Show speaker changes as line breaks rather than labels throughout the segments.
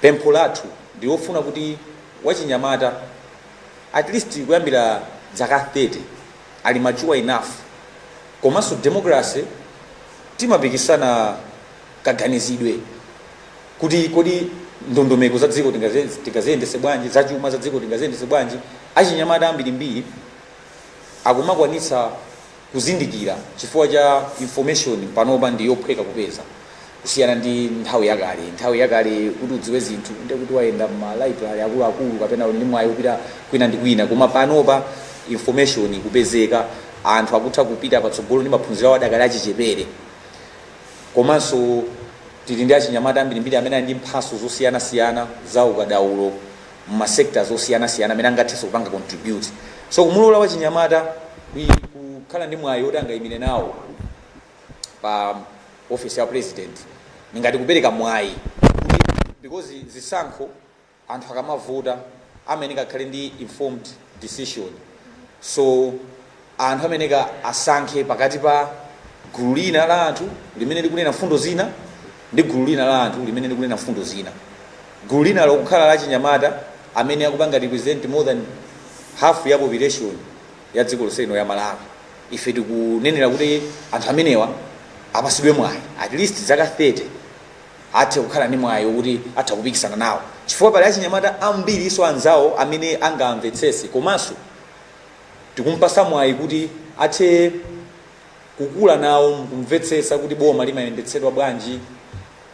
Pempho lathu ndilofuna kuti wachinyamata at least kuyambira dzaka 30 ali mature enough komanso democracy timapikisana kaganizidwe kuti kodi ndondomeko za dziko tingaziyendese bwanji, zachuma za dziko tingaziyendese bwanji, achinyamata ambirimbiri akumakwanitsa kuzindikira chifukwa cha information panopa ndi yophweka kupeza kusiyana ndi nthawi yakale nthawi yakale kuti udziwe zinthu nde kuti wayenda ma library akuluakulu kapena uli ndi mwayi wopita kwina ndi kwina koma panopa information kupezeka anthu akutha kupita patsogolo ndi maphunziro awo adakali achichepere komanso tili ndi achinyamata ambirimbiri amene ali ndi mphaso zosiyanasiyana za ukadaulo mu ma sectors osiyana siyana amene angatheso kupanga contribute so kumulola wachinyamata kui kukhala ndi mwayi oti angayimire nawo pa office ya president ndingati kupereka mwayi kuti because zisankho anthu akamavota amayeneka akhale ndi informed decision so anthu amayeneka asankhe pakati pa gulu lina la anthu limene likunena mfundo zina ndi gulu lina la anthu limene likunena mfundo zina gulu lina lokukhala la chinyamata amene akupanga represent more than half ya population ya dziko lonse lino ya malawi ife tikunenera kuti anthu amenewa apasidwe mwayi at least zaka 30 athe kukhala ndi mwayi wokuti atha kupikisana nawo chifukwa pali achinyamata ambirinso anzawo amene angamvetsese komanso Tikumpasa mwayi kuti athe kukula nawo mkumvetsetsa kuti boma limayendetsedwa bwanji,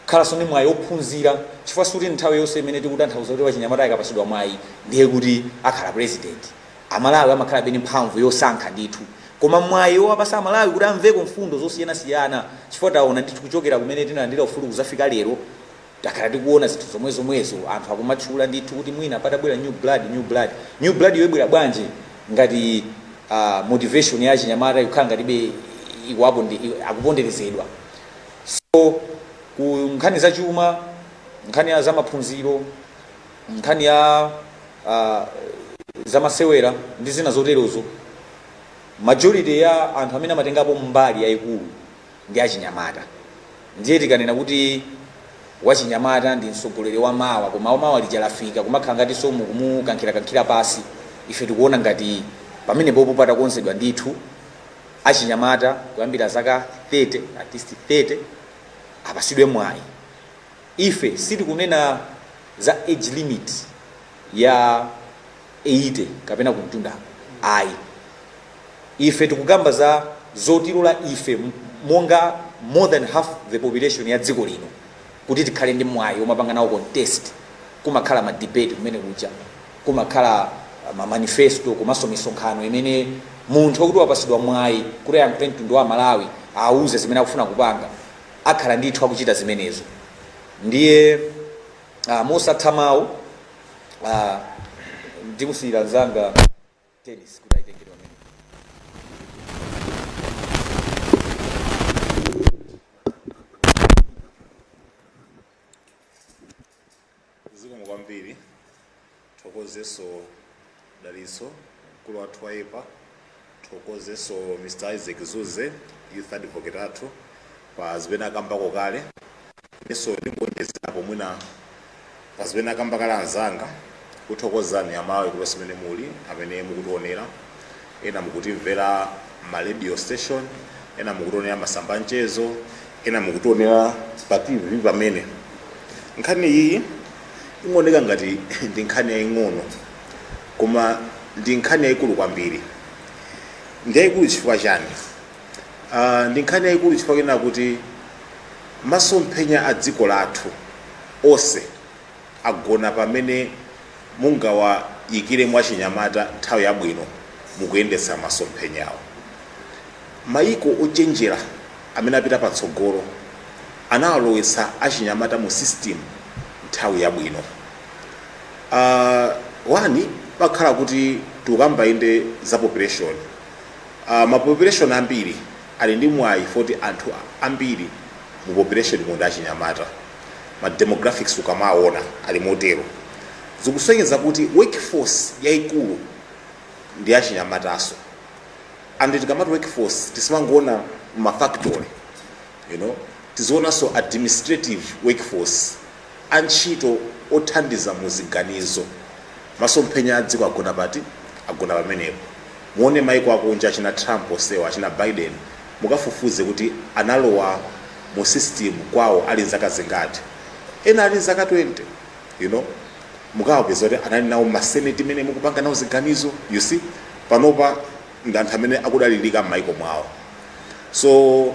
kukhalanso ndi mwayi ophunzira chifukwa sikuti nthawi yonse imene tikutanthauza kuti wachinyamata akapasidwa mwayi ndiye kuti akhala president. Amalawi amakhalabe ndi mphamvu yosankha ndithu koma mwayi owapasa amalawi kuti amveko mfundo zosiyanasiyana chifukwa taona ndithu kuchokera kumene tinalandira ufulu kuzafika lero, Takhala tikuona zinthu zomwe zomwezo anthu akumatchula ndithu kuti mwina padabwera new blood, new blood. New blood yo ibwera bwanji ngati aah motivation ya achinyamata ikukhala ngatibe ikuwaponde akuponderezedwa. So ku nkhani za chuma, nkhani ya za maphunziro, nkhani ya aah za masewera ndi zina zoterozo majority ya anthu amene amatengapo mbali yayikulu, ndi achinyamata. Ndiye tikanena kuti wachinyamata ndi mtsogoleri wa mawa koma mawa lija lafika kumakhala ngatinso mukumukankhirakankhira pasi. Ife tikuona ngati pamenepopo patakonzedwa ndithu achinyamata kuyambira zaka 30 at least 30 apasidwe mwayi. Ife sitikunena za age limit ya 80 kapena kumtundako ayi. ife tikukamba za zotilola ife monga more than half the population ya dziko lino kuti tikhale ndi mwayi omapanga nawo contest kumakhala ma debate kumene kuja kumakhala ma manifesto komanso misonkhano imene munthu okuti wapasidwa mwayi kuti ayankhule mtundu wa malawi awuze zimene akufuna kupanga akhala ndithu akuchita zimenezo ndiye uh, mosatha mawu uh, ndimusiyire nzanga Dennis kuti ayitengere pamenepo. zikomo kwambiri thokozeso dalitso mkulu wathu wa YEPA thokozeso mr isaac zuze youth advocate athu pa zimene akambako kale Inenso ndingoonjezerapo mwina pa zimene akamba kale anzanga, kukuthokozani a Malawi kulikonse kumene muli, amene mukutionera, ena mukutimvera mma radio station, ena mukutionera mmasamba a mchezo, ena mukutionera pa TV pamenepo. Nkhani iyiyi imaoneka ngati ndi nkhani yaing'ono koma ndi nkhani yaikulu kwambiri. Ndi yaikulu chifukwa chani? Ah, ndi nkhani yayikulu chifukwa chonena kuti masomphenya a dziko lathu onse agona pamene mungawayikire achinyamata nthawi yabwino m'kuyendetsa masomphenyawo mayiko ochenjera amene apita patsogolo anawalowetsa achinyamata mu system nthawi yabwino uh, wani pamakhala kuti tikukamba inde za population A mapopuleshoni ambiri ali ndi mwayi oti anthu ambiri mu populeshonimo ndi achinyamata, ma demographics ukamawona ali motero, zikusonyeza kuti workforce yaikulu ndi achinyamataso and tikamati workforce tisamangowona mma factory you know tiziwonanso administrative workforce. Antchito othandiza mu ziganizo, Masomphenya a dziko agona pati? Agona pamenepo. Muone maiko akunja achina Trump onsewa, achina Biden, mukafufuze kuti analowa mu system kwawo ali nzaka zingati. Ena ali nzaka 20 you know. Mukawapeza kuti anali nawo mma senate mene mukupanga nawo ziganizo you see. Panopa ndi anthu amene akudalilika mmaiko mwawo so.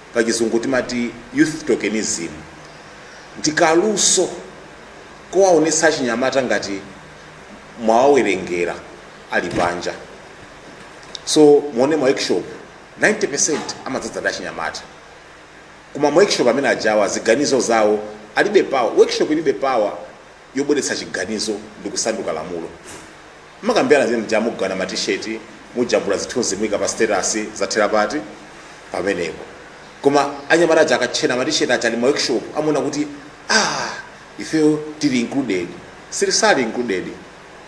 pa chizungu timati youth tokenism ndi kaluso kowaonetsa achinyamata ngati mwawawerengera ali panja so muone ma workshop 90% amadzadza ndi achinyamata koma ma workshop amene ajawa ziganizo zawo alibe power workshop ilibe power yobweretsa chiganizo ndikusanduka lamulo. Mumakambirana zimene muja mugawana ma t-shirt, mujambula zithunzi muika pa status, zathera pati? Pamenepo. Koma anyamata aja akatchena ma t-shirt aja ali ma workshop amaona kuti ah ifeyo tili included. siali included.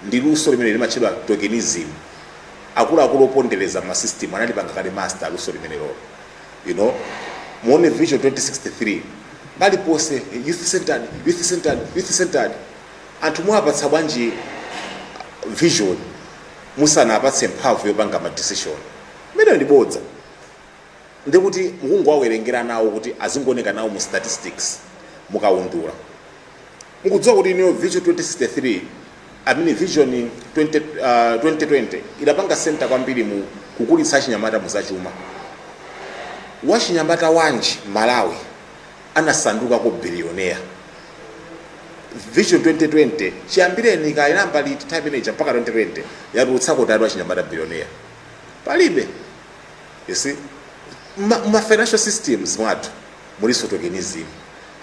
Ndi luso limene limatchedwa tokenism. Akuluakulu opondereza ma system anali panga kale master luso limenelolo. you know muone vision 2063 paliponse youth centered youth centered youth centered anthu muwapatsa bwanji vision musanawapatse mphamvu yopanga ma decision imeneyo ndi bodza ndikuti mukungowawerengera nawo kuti azingooneka nawo mu statistics mukaundula Mukudziwa inuyo kuti Vision 2063 I mean Vision 20, uh, 2020 idapanga center kwambiri mu kukulitsa achinyamata mu zachuma. Wachinyamata wanji Malawi anasanduka ko billionaire? Vision 2020 chiyambireni inayamba tili teenager mpaka 2020 yatulutsako kuti wachinyamata billionaire. Palibe. You see? Ma, ma financial systems mwathu mulinso tokenism.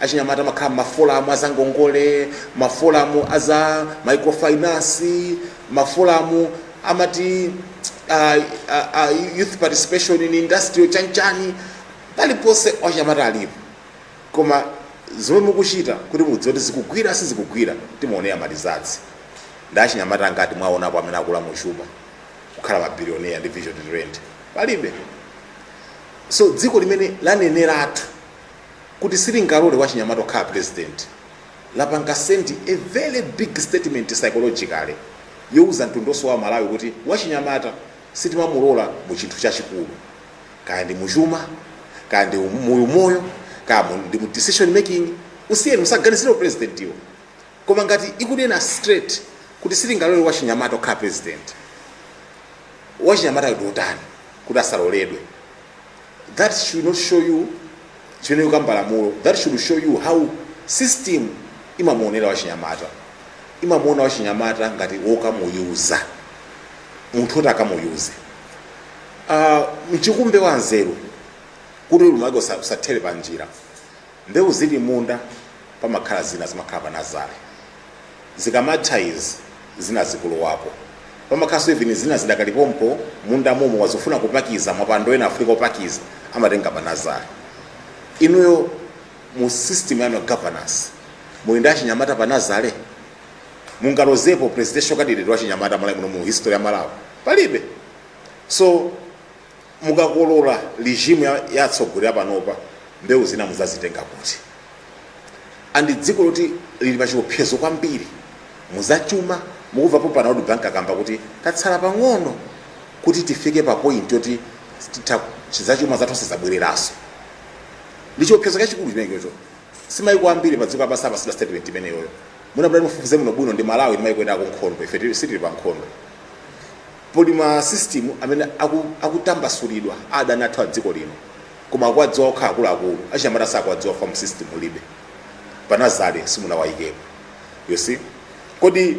Achinyamata amakhala m'mafolamu a zangongole, mafolamu a za microfinance, mafolamu amati a, a, a youth participation in industrial chanchani, paliponse achinyamata alipo. Koma zimene mukuchita kuti mudziwe kuti zikugwira sizikugwira timaonera ma results. Ndi achinyamata angati mwaonapo amene akula mu chuma kukhala mabilionea ndi vision 2020? Palibe. so dziko limene laneneratu kuti silingalole wachinyamata akhale president lapanga send a very big statement psychologically youza mtundonso wa malawi kuti wachinyamata sitimamulola mu chinthu chachikulu kaya ndi muchuma kaya ndi mu umoyo kaya mu- ndi mu decision making usiyeni musaganize za upresident wo koma ngati ikunena straight kuti silingalole wachinyamata okhala president wachinyamatayo ndi otani kuti asaloledwe that should not show you si ine yokamba lamulo that should show you how system imamuonera wachinyamata imamuona wachinyamata ngati wokamuyuza munthu woti akamuyuze uh, mchikumbe wa nzeru kuti ulimi wake usathere pa njira Mbewu zili m'munda pamakhala zina zimakhala pa nazale zikamatha izi zina zikulowapo pamakhalanso even zina zidakali pompo m'munda momo akafuna kupakiza mapando ena afunika opakiza amatenga pa nazale. Inuyo mu system yanu ya governance muli ndi achinyamata pa nazale? Mungalozepo presidential candidate wachinyamata Malawi muno mu history ya Malawi? Palibe. So Mukakolola regime ya atsogoleri apanopa mbewu zina muzazitenga kuti? And dziko loti lili pa chiopsezo kwambiri mu za chuma mukuva pompano World Bank akamba kuti tatsala pang'ono kuti tifike pa point yoti tithe za chuma zathu sizabwereranso. Ndi chiopsezo chachikulu chimene chocho. Si maiko ambiri pa dziko lapansi apatsidwa statement imeneyoyo. Mukapita mufufuze muno bwino ndi Malawi ndi maiko ena akunkhondo ife tili sitili pa nkhondo. Pali ma system amene aku akutambasulidwa ndi adani athu adziko lino koma akuwadziwa okha akuluakulu, achinyamata sakuwadziwa cause mu system mulibe. Pa nazale simunawayikepo you see. Kodi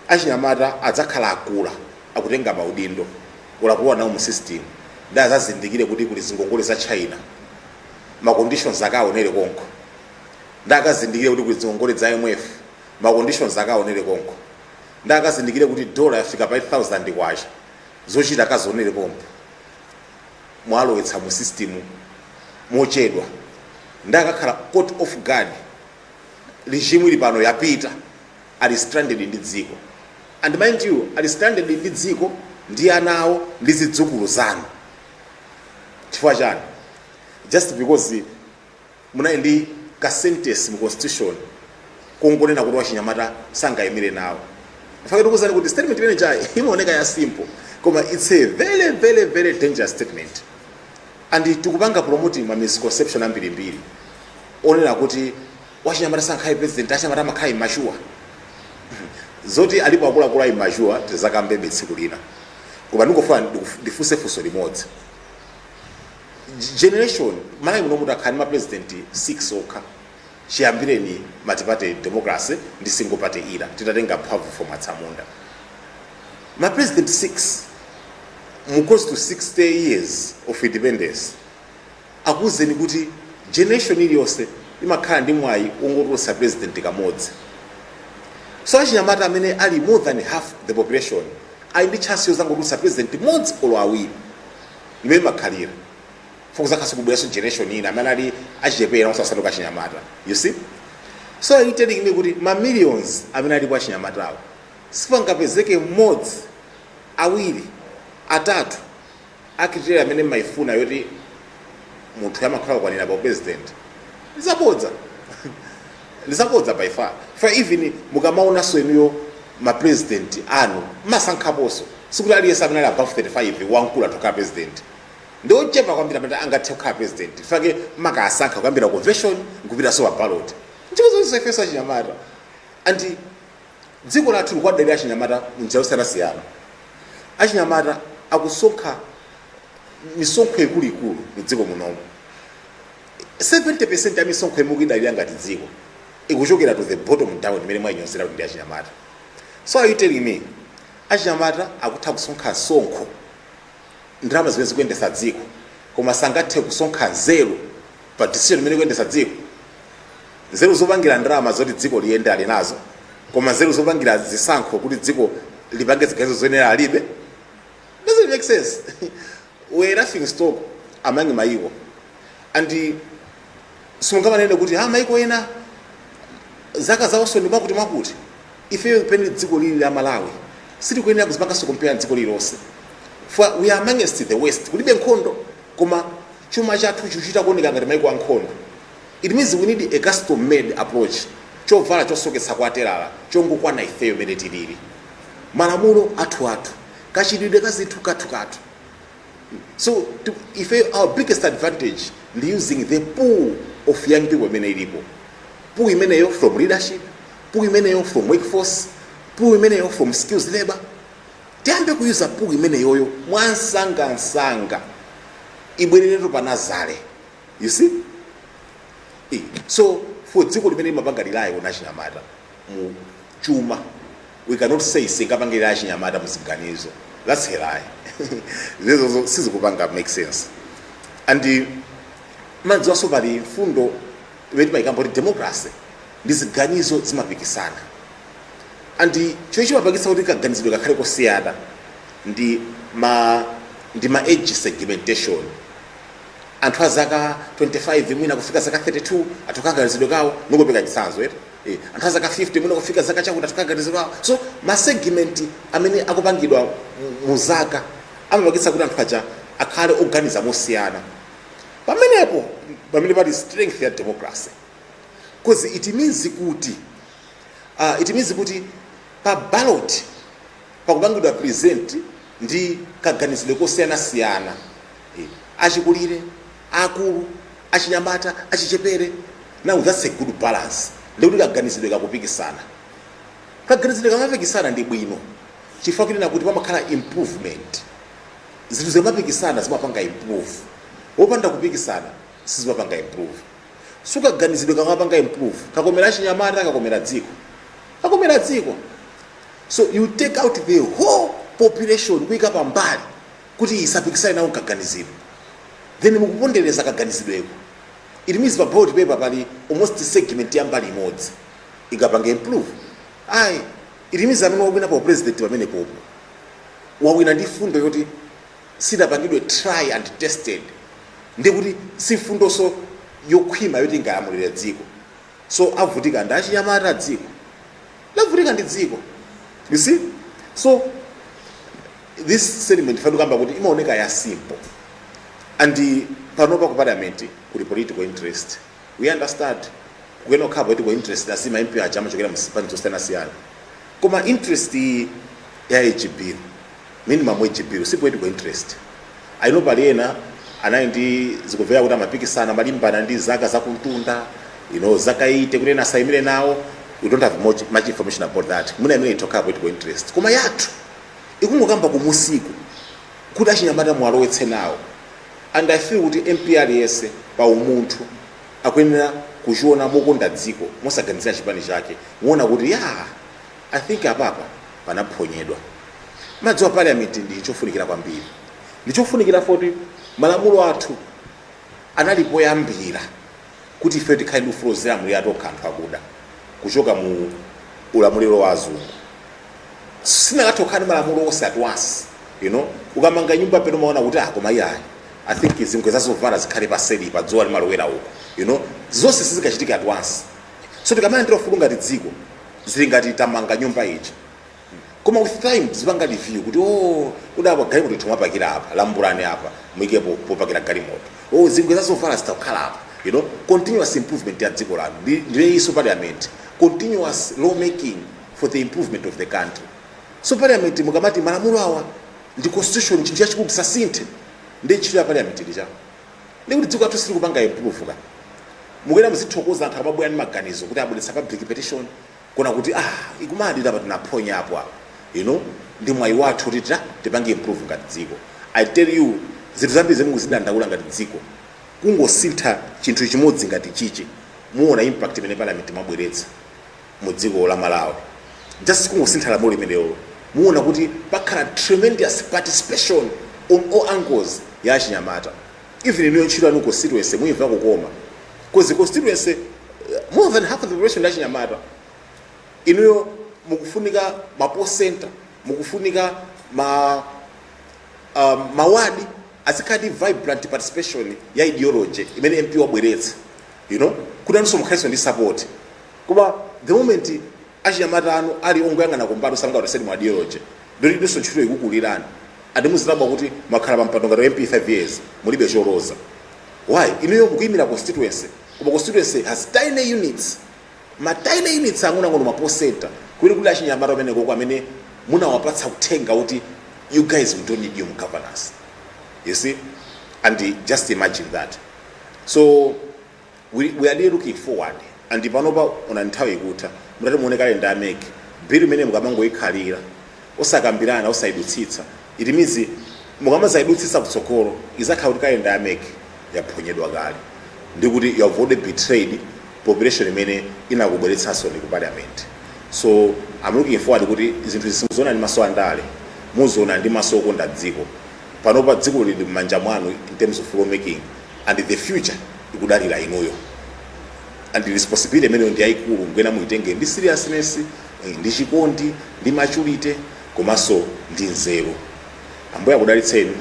achinyamata adzakhala akula akutenga ma udindo or akulowa nawo mu system ndiye azazindikire kuti kuli zingongole za China ma conditions akawonere konko. Ndiye akazindikire kuti kuli dzingongole dza IMF ma conditions akawonere konko. nde akazindikire kuti dollar yafika pa 8000 kwacha zochita akazionere pompo mwalowetsa mu system mochedwa nde akakhala caught off guard regime ili pano yapita ali stranded ndi dziko and mind you ali stranded ndi dziko ndi ana awo ndi zidzukulu zanu chifukwa chani just because Munali ndi ka sentence mu constitution kongonena kuti wachinyamata sangaimire nawo. Nchifukwa chake ndikuuzani kuti statement imene ija imaoneka ya simple koma it's a very very very dangerous statement and tikupanga promoting ma misconception ambirimbiri onena kuti wachinyamata sangakhale president, achinyamata amakhala immature. Zoti alipo akuluakulu a immature tizakambabe tsiku lina koma ndingofuna ndifunse funso limodzi. generation malawi muno mutakhala ndi mapresident 6 okha chiyambireni multiparty democracy ndi single party era titatenga mphamvu from atsamunda mapresident 6 mu close to 60 years of independence akuwuzeni kuti generation iliyonse imakhala ndi mwayi wongotulutsa president kamodzi so achinyamata amene ali more than half the population ali ndi chance yozangotulutsa president mmodzi olo awiri imene imakhala before kuzakhalanso kubweranso generation ina amene ali achichepera asanasanduke achinyamata you see so are you telling me kuti ma millions amene alipo achinyamatawo sipangapezeke mmodzi awiri atatu a criteria imene mmayifuna yoti munthu amakhala akukwanira pa upresident zabodza ndizabodza by far chifukwa even mukamaonanso inuyo ma president anu masankhaponso sikuti aliyense amene ali above 35 mkulu atha kukhala president ndi ochepa kwambiri amene angathe kukhala president chifukwa makasankha kuyambira convention nkupitanso pa ballot ndi zonse ifenso achinyamata and dziko lathu likuwadalira achinyamata munjira zosiyanasiyana achinyamata akusonkha misonkho ikuluikulu mu dziko munomo 70% ya misonkho imene mukuidalira ngati dziko ikuchokera to the bottom down imene mukuinyozera kuti ndi achinyamata so are you telling me achinyamata akutha kusonkha msonkho ndalama zimene zikuyendetsa dziko koma sangathe kusonkha nzeru pa decision imene ikuyendetsa dziko nzeru zopangira ndalama zoti dziko liyende ali nazo koma nzeru zopangira zisankho kuti dziko lipange ziganizo zoyenera alibe doesn't make sense where nothing stop among maiko and simungamanene kuti ha maiko ena zaka zawonso ndi zakuti zakuti ifeyo pamene dziko ili la malawi sitikuyenera kuzipanganso compare ndi dziko lilonse for we are amongst the worst kulibe nkhondo koma chuma chathu chikuchita kuoneka ngati maiko a nkhondo it means we need a custom made approach chovala chosoketsa kwa telala chongokwana ifeyo mene tilili malamulo athu athu kachitidwe ka zinthu kathu kathu so to, ife our biggest advantage ndi using the pool of young people imene ilipo pool imeneyo from leadership pool imeneyo from workforce pool imeneyo from skills labor tiyambe kuyuza pool imeneyoyo mwansangansanga ibwereretu pa nazale you see Eh, so for dziko limene limapanga rely on achinyamata mu chuma we cannot say sitingapange rely on achinyamata muziganizo that's a lie zimenezozo sizikupanga make sense and mukudziwanso pali mfundo imene timayikamba kuti democracy ndi ziganizo zomapikisana and chomwe chimapangitsa kuti kaganizidwe kakhale kosiyana ndi ma ndi ma age segmentation anthu a zaka 25 mwina kufika zaka 32 atha kaganizidwe kawo ndikupereka chitsanzo eti Eh, anthu azaka 50 mwina kufika zaka chakuti akuganiza so ma segment amene akupangidwa mu- mu zaka amapangitsa kuti anthu aja akhale oganiza mosiyana pamenepo pamene pali strength ya democracy because it means kuti uh, it means kuti pa ballot pakupangidwa present kaganizidwe kosiyanasiyana Eh, achikulire aakulu, achinyamata, achichepere. Now that's a good balance ndi kuti kaganizidwe kakupikisana. Kaganizidwe kamapikisana ndi bwino chifukwa kunena kuti pamakhala improvement. Zinthu zikamapikisana zimapanga improve. Wopanda kupikisana sizimapanga improve. So kaganizidwe kamapanga improve. Kamakomera achinyamata, kamakomera dziko. Kamakomera dziko. So you take out the whole population kuika pambali kuti isapikisane nawo mkaganizidwe then mukupondereza kaganizidweko it means pa ballot paper pali almost segment ya mbali imodzi singapange improve ayi it means amene wawinapo u-president pamenepopo wawina ndi fundo yoti sidapangidwe try and tested ndikuti si fundonso yokhwima yoti ingalamulire dziko so avutika ndi achinyamata dziko lavutika ndi dziko you see so this statement ife tikukamba kuti imaoneka ya simple and panopa ku parliament kuli political interest we understand kuyenera kukhala political interest as ma MP aja amachokera mu zipani zosiyanasiyana koma interest iyi ya hb Minimum age bill si political interest. I know pali ena anali ndi zikumveka kuti amapikisana amalimbana ndi zaka zakumtunda you know zaka 80 kuti ena asayimire nawo we don't have much, much information about that mwina imene itokhala political interest koma yathu ikungokamba kumusiku kuti achinyamata muwalowetse nawo and i feel kuti mp aliyense pa umunthu akuyenera kuchiona mokonda dziko mosaganizira chipani chake aone kuti ya I think apapa panaphonyedwa. Mwayi wa parliament ndi chofunikira kwambiri. Ndi chofunikira poti malamulo athu anali poyambira kuti ifeyo tikhale ndi ufulu ozilamulira tokha anthu akuda kuchoka mu ulamuliro wa azungu. Sitinakathe kukhala ndi malamulo onse at once. You know, ukamanga nyumba peno umaona kuti ah koma iyayi. I think zingwe za zovala zikhale paseli pa dzuwa limalowera uko. You know, zonse sizikachitika at once. So tikamalandira ufulu ngati dziko zili ngati tamanga nyumba ija koma with time uzipanga review kuti o kudapa galimoto timapakira apa lambulani apa muike po- popakira galimoto o zingwe zazovala zitakhala apa you know continuous improvement ya dziko lanu Ndi- ndiye so parliament continuous law making for the improvement of the country so parliament mukamati malamulo awa ndi constitution chinthu chachikulu tisasinthe ndi ntchito ya parliament lija ndi kuti dziko lathu silikupanga improve ka mukuyenera muzithokoza anthu akamabwera ndi maganizo kuti abweretsa public petition kuona kuti ah ikumadira apa tinaphonya apo apo you know ndi mwayi wathu kuti tita tipange improve ngati dziko i tell you zinthu zambiri zomwe mukuzidandaula ngati dziko kungosintha chinthu chimodzi ngati chichi muona impact imene parliament imabweretsa mu dziko la malawi just kungosintha lamulo limenelo muona kuti pakhala tremendous participation on all angles ya achinyamata even inuyo ntchito yanu constituency muyimva kukoma because constituency eh, more than half of the population ndi achinyamata inuyo mukufunika ma poll center mukufunika ma um, mawadi azikhala vibrant participation ya ideology imene mp wabweretsa you know kuti nanunso mukhalenso ndi support koma the moment achinyamata anu ali ongoyang'ana kumbali osangaotaseni mu ideology ndiye inunso ntchito ikukulirani and muzidabwa kuti mwakhala pa mpando ngati wa mp 5 years mulibe choloza why inuyo mukuyimira constituency koma constituency has tiny units ma tiny units ang'onoang'ono ma poll center kuti kuti achinyamata omwe konko amene munawapatsa uthenga kuti you guys we don't need you mu governance you see and just imagine that so We we are really looking forward and panopa onani nthawi ikutha mutati muone kalenda ya mec bill imene mukamangoikhalira osakambirana osaidutsitsa it means mukamazaidutsitsa kutsogolo izakhala kuti kalenda ya mec yaphonyedwa kale ndekuti you have already betrayed population imene inakubweretsanso ndi ku parliament so i'm looking forward kuti zinthu izi musazione ndi maso andale muzione ndi maso okonda dziko panopa dziko lili m'manja mwanu in terms of law making and the future likudalira inuyo and responsibility imeneyo ndi yayikulu mwina muitenge ndi seriousness eh, ndi chikondi ndi maturity komanso ndi nzeru ambuye akudalitseni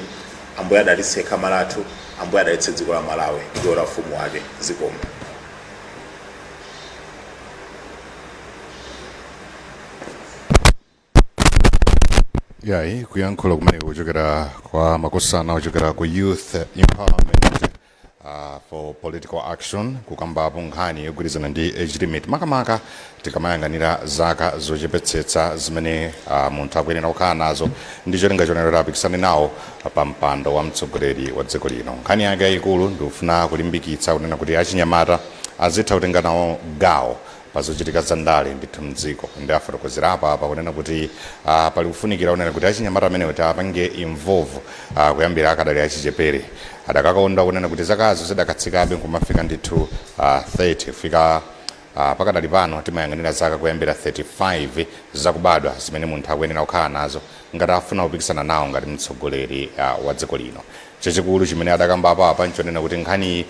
ambuye adalitse khama lathu ambuye adalitse dziko la malawi ndiponso mfumu wake zikomo yayi kuyankhula kumene kuchokera kwa makosana ochokera ku youth empowerment uh, for political action kukambapo nkhani yogwirizana ndi age limit makamaka tikamayang'anira zaka zochepetsetsa zimene uh, munthu akuyenera kukhala nazo ndi cholinga chonena kuti apikisane nawo pa mpando wa mtsogoleri wa dziko lino nkhani yake yayikulu ndikufuna kulimbikitsa kunena kuti achinyamata azitha kutenga nawo gawo pa zochitika za ndale ndithu mdziko ndiye afotokozera apa apa kunena kuti uh, pali kufunikira kunena kuti achinyamata amenewo tiapange involve uh, kuyambira akadali achichepere adakakonda kunena kuti zakazo zidakatsikabe nkumafika ndithu uh, 30 kufika Uh, pakadali pano timayang'anira zaka kuyambira 35 zakubadwa zimene munthu akuyenera kukhala nazo ngati afuna kupikisana nawo ngati mtsogoleri uh, wa dziko lino Chachikulu chimene atakambapo apa nchonena kuti nkhaniyi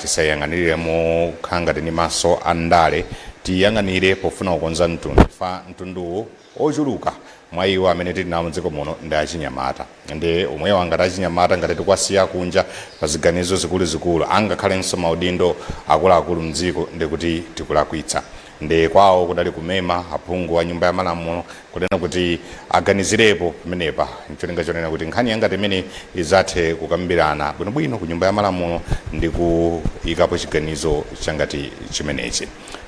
tisaiyang'anilire mokhala ngati ndi maso a ndale, tiiyang'anire pofuna kukonza mtundu chifukwa mtunduwu ochuluka mwa iwo amene tili nawo mdziko muno ndi achinyamata ndiye amenewa ngati achinyamata ngati tikuwasiya kunja pa ziganizo zikuluzikulu angakhalenso maudindo akuluakulu mdziko ndekuti tikulakwitsa. Nde kwawo kudali kumema aphungu a nyumba ya malamulo kunena kuti aganizirepo pamenepa ncholinga chonena kuti nkhani yangati imeneyi izathe kukambirana bwinobwino ku nyumba ya malamulo ndi kuyikapo chiganizo changati chimenechi.